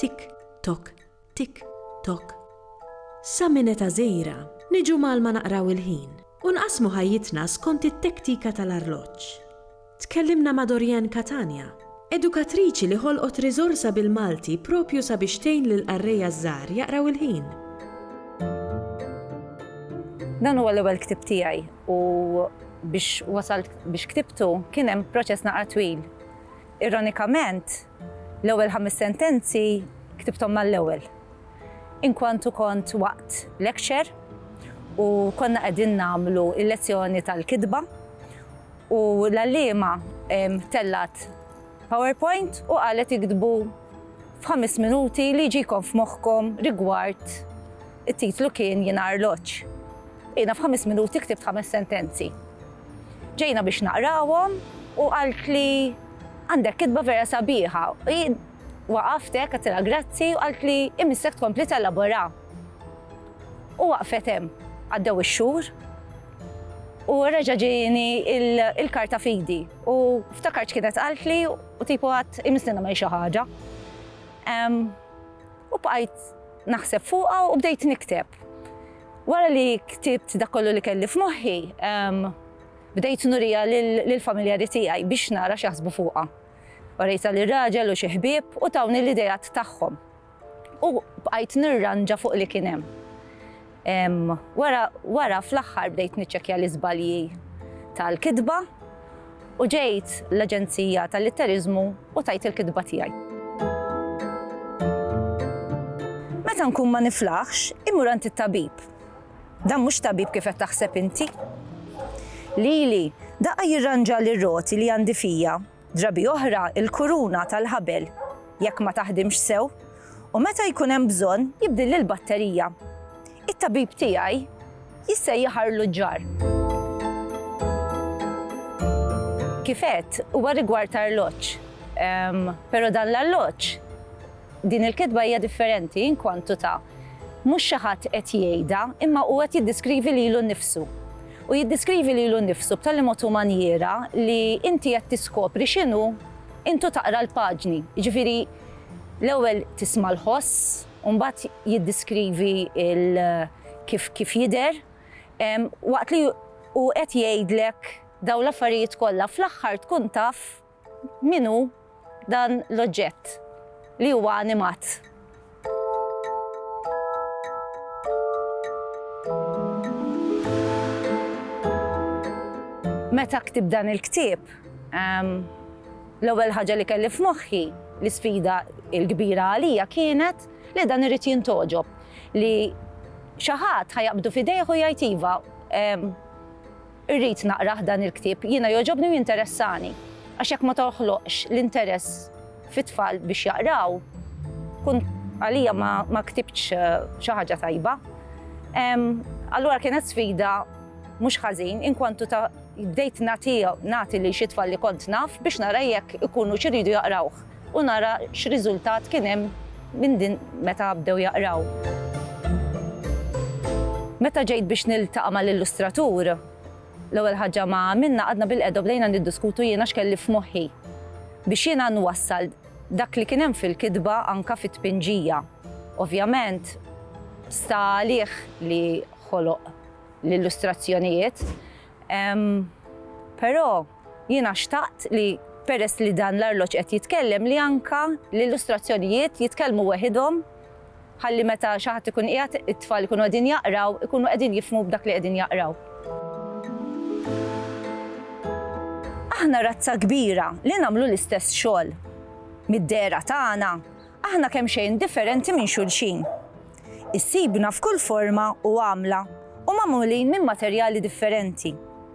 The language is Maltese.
Tik tok, tik tok. Sa minn eta żejra niġu mal-ma naqraw il-ħin u nqassmu ħajjitna skont it-tektika tal-arloġġ. Tkellimna ma' Dorianne Catania, edukatriċi li ħolqot riżorsa bil-Malti proprju sabiex tgħin lill-qarrejja ż-żgħar jaqraw il-ħin. Dan huwa l-ewwel ktieb tiegħi u biex wasalt biex ktibtu kien hemm proċess naqra twil. Ironikament, l-ewwel ħames sentenzi ktibthom mal-ewwel. Inkwantu kont waqt lecture u konna qegħdin nagħmlu l-lezzjoni tal-kitba U l-għalliema tellgħet PowerPoint u qalet iktbu f'ħames minuti li jġikom f'moħħkom rigward it-titlu kien Jien Arloġġ. Jiena f'ħames minuti ktibt ħames sentenzi. Ġejna biex naqrawhom u qaltli għandek kitba vera sabiħa. Waqaft hekk għatilha grazzi u qaltli imissek tkompli telaborha. U waqfet hemm. Għaddew ix-xhur U reġa' ġieni l-karta f'idi u ftakart x'kienet qaltli u tipu għadt imislina minn xi ħaġa. U bqajt naħseb fuqha u bdejt nikteb. Wara li ktibt dak kollu li kelli f'moħħi, bdejt nuriha lill-familjari tiegħi biex nara x'jaħsbu fuqha. Urejtha lir-raġel u xi ħbieb u tawni l-ideat tagħhom. U bqajt nirranġa fuq li kien hemm. Ehm, wara, wara fl-aħħar bdejt niċċekkja l-iżbalji tal-kitba u ġejt l-Aġenzija tal-Litteriżmu u tajt il-kitba tiegħi. Meta nkun ma niflaħx, imur għand it-tabib. Dan mhux tabib kif qed taħseb inti. Lili, daqqa jirranġa li roti li għandi fija Drabi oħra l-kuruna tal-ħabel jekk ma taħdimx sew u meta jkun hemm bżonn jibdilli l-batterija. It-tabib tiegħi jissejjaħ arluġġar. Kif għedt, huwa rigward ta' arloġġ. Però dan l-arloġġ, din il-kitba hija differenti inkwantu ta' mhux xi ħadd qed jgħidha, imma huwa qed jiddiskrivi lilu nnifsu. U jiddeskrivi lilu nnifsu b'tali mod u manjiera li inti qed tiskopri x'inhu intu taqra l-paġni. Jiġifieri l-ewwel tisma' l-ħoss u mbagħad jiddeskrivi l kif kif jidher waqt li hu qed jgħidlek dawn l-affarijiet kollha fl-aħħar tkun taf Min hu dan l-oġġett li huwa animat? Meta ktibt dan il-ktieb, l-ewwel ħaġa li kelli f'moħħi, l-isfida l-kbira għalija kienet li dan irid jintgħoġob, li xi ħadd ħa jaqbdu f'idejh u jgħid iva, Irrid naqrah dan il-ktieb, jiena jogħġobni u jinteressani. Għax jekk ma toħloqx l-interess fit-tfal biex jaqraw, tkun għalija ma ktibtx xi ħaġa tajba. Allura kienet sfida mhux ħażin inkwantu ta' bdejt nagħti lil xi tfal li kont naf biex nara jekk ikunu xiridu jaqrawh. u nara x'riżultat kien hemm minn din meta bdew jaqraw. Meta ġejt biex niltaqa' mal-illustratur, l-ewwel ħaġa ma għamilna qgħadna bilqiegħda u bdejna niddiskutu jiena x'kelli f'moħħi biex jiena nwassal dak li kien hemm fil-kitba anke fit-tpinġija. Ovvjament sta għalih li ħoloq l-illustrazzjonijiet, però. Jiena xtaqt li, peress li dan l-arloġġ qed jitkellem, li anke l-illustrazzjonijiet jitkellmu weħidhom ħalli meta xi ħadd ikun qiegħed, it-tfal ikunu qegħdin jaqraw, ikunu qegħdin jifhmu b'dak li qegħdin jaqraw. Aħna razza kbira li nagħmlu l-istess xogħol. Mid-dehra tagħna, aħna kemxejn differenti minn xulxin. Issibna f'kull forma u għamla u magħmulin minn materjali differenti.